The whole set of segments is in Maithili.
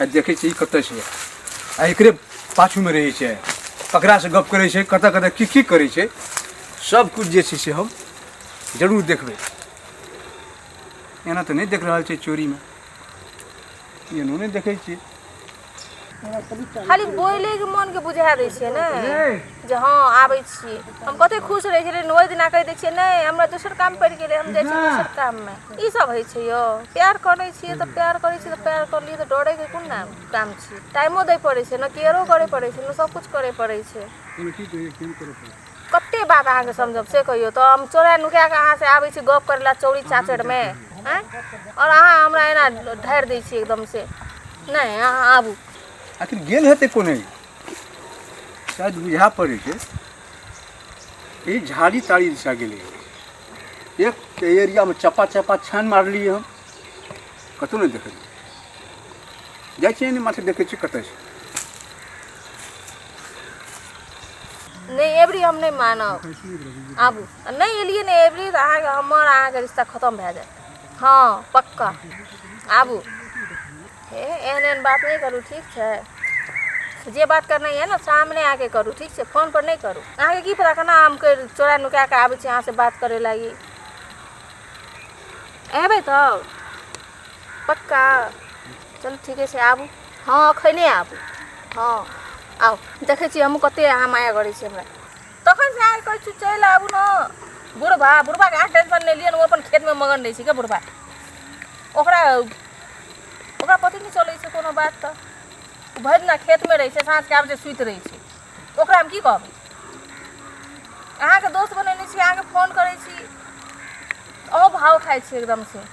आ देखै छी ई कतऽ छै आ एकरे पाछूमे रहै छै ककरासँ गप करै छै कतऽ कतऽ की की करै छै सबकिछु जे छै से हम जरूर देखबै एना तऽ नहि देख रहल छै चोरीमे एनो नहि देखै छियै खाली बोले के मन के बुझा दै छियै ने जे हँ आबै छियै हम कते खुश रहै छलियै ओहि दिना कहि दै छियै नहि हमरा दोसर काम पड़ि गेलै हम जाइ छियै दोसर काममे ई सब होइ छै यौ प्यार करै छियै तऽ प्यार करै छियै तऽ प्यार कऽ लियै तऽ डरैके कोन नाम काम छै टाइमो दै पड़ै छै ने केयरो करै पड़ै छै ने सबकिछु करै पड़ै छै कते बात अहाँके समझब से कहियौ तऽ हम चोरा नुका कऽ अहाँ से आबै छी गप करै लए चौरी चाचरमे आँय आओर अहाँ हमरा एना ढारि दै छियै एकदम से नहि अहाँ आबू आखिर गेल हेतै कोने शायद बुझा पड़े के ई झाड़ी ताड़ी दिशा गेलै एक के एरियामे चपा चपा छान मारलियै हम कतहु नहि देखलियै जाइ छियै ने माथे देखै छियै कतऽ छै नहि एबरी हम नहि मानब आबू आ नहि एलियै ने एबरी तऽ अहाँके हमर अहाँके रिश्ता खतम भए जायत हँ पक्का आबू हे एहन एहन बात नहि करू ठीक छै जे बात करनाइ यऽ ने सामने आके करू ठीक छै फोन पर नहि करू अहाँके की पता केना हम करि चोरा नुका कऽ आबै छी अहाँसँ बात करै लागी अयबै तब पक्का चलू ठीके छै आबू हँ अखने आबू हँ आउ देखै छी हमहूँ कते अहाँ माया करै छी हमरा तखन से अहाँ कहै छी चलि आबू ने बुढ़बा बुढ़बाके अहाँ टेंशन नहि लिअ ने ओ अपन खेतमे मगन रहै छै के बुढ़बा ओकरा ओकरा पति नहि चलै छै कोनो बात तऽ ओ भरि दिना खेतमे रहै छै साँझके आबै छै सुति रहै छै ओकरा हम की कहबै अहाँके दोस्त बनेने छी अहाँके फोन करै छी अहूँ भाव खाइ छी एकदमसँ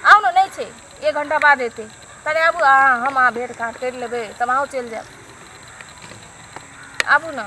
आउ ने नहि छै एक घण्टा बाद एतै तनि आबू अहाँ हम अहाँ भेट घाट करि लेबै तब अहूँ चलि जायब आबू ने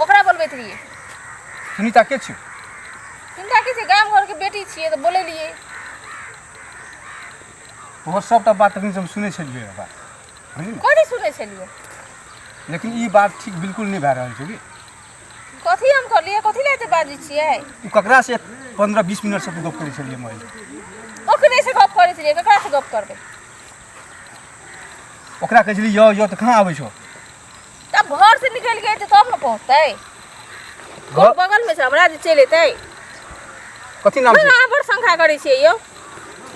ओकरा बोलबैत रहियै सुनीता के छियौ चिन्ता की छै गाम घरके बेटी छियै तऽ बोलेलियै तोहर सभटा बात तखन से हम सुनै छलियै रऽ बात बुझली ने? कथी सुनै छलियै लेकिन ई बात ठीक बिल्कुल नहि भए रहल छै की कथी हम करलियै कथी लए एते बाजै छियै तू ककरा से पंद्रह बीस मिनट से तू गप करै छलियै मोबाइल ओकरे से गप करै छलियै ककरा से गप करबै ओकरा कहै छलियै यौ यौ तऽ कहाँ आबै छौ तब घर से निकल गए थे तब न पहुँचते घर बगल में से हमरा जे चलि अयतै कथी नाम छै अहाँ बड़ शंका करै छियै यौ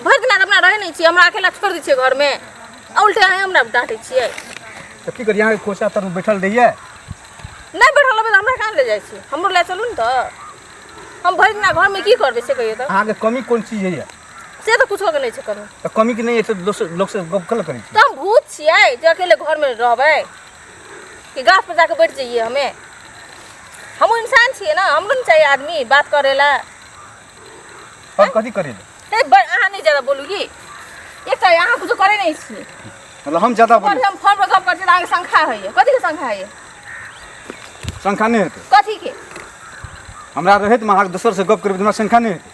भरि दिना तऽ अपना रहै नहि छियै हमरा अकेला छोड़ि दै छियै घरमे आ उल्टे अहाँ हमरा डाँटै छियै तऽ की करियै अहाँके कोचा तर बैठल रहियै नहि बैठल रहबै तऽ हमरा कहाँ ले जाइ छियै हमरो लए चलू ने तऽ हम भरि दिना घरमे की करबै से कहियौ तऽ अहाँके कमी कोन चीज होइए से तऽ कुछो के नहि छै करू तऽ कमी के नहि एतै तऽ दोसर लोक से गप कल करै छी तऽ हम भूत छियै जे अकेले घर में रहबै कि गाछ पर जाके बैठ जाइए हमे हमहूँ इंसान छियै ना हमरो ने चाहिए आदमी बात करे ला और कथी करै ले हे बड़ अहाँ नहीं ज्यादा बोलू की एक तऽ अहाँ कुछो करे नहीं छियै मतलब हम ज्यादा ऊपर बोली से हम फोन पर गप करै छियै तऽ अहाँके संख्या होइए कथी के संख्या होइए संख्या नहि हेतै कथी के हमरा रहैत में अहाँके दोसर से गप करबै तऽ हमरा संख्या नहि हेतै